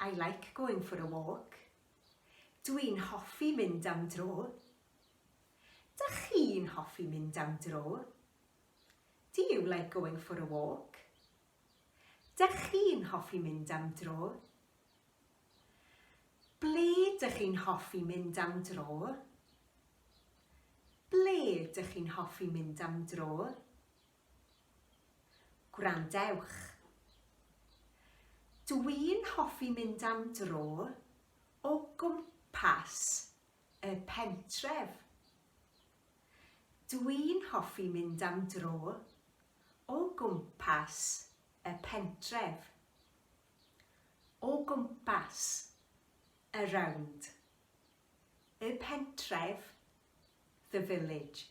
I like going for a walk. Dw i'n hoffi mynd am dro. Dach chi'n hoffi mynd am dro? Do you like going for a walk? Dych chi'n hoffi mynd am dro? Ble dych chi'n hoffi mynd am dro? Ble dych chi'n hoffi mynd am dro? Gwrandewch. Dw i'n hoffi mynd am dro o gwmpas y pentref. Dw i'n hoffi mynd am dro o gwmpas y pentref. O gwmpas, around. Y pentref, the village.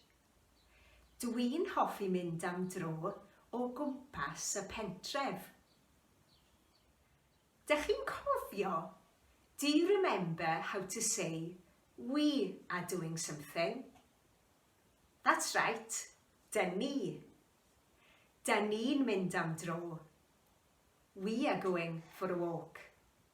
Dw i'n hoffi mynd am dro o gwmpas y pentref. Dych chi'n cofio, do you remember how to say we are doing something? That's right, da ni. Da ni'n mynd am dro. We are going for a walk.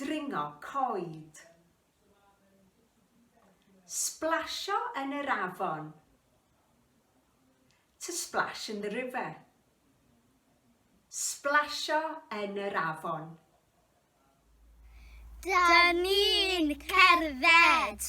Dringo coed. Splasio yn yr afon. To splash in the river. Splasio yn yr afon. Dyn ni'n cerdded.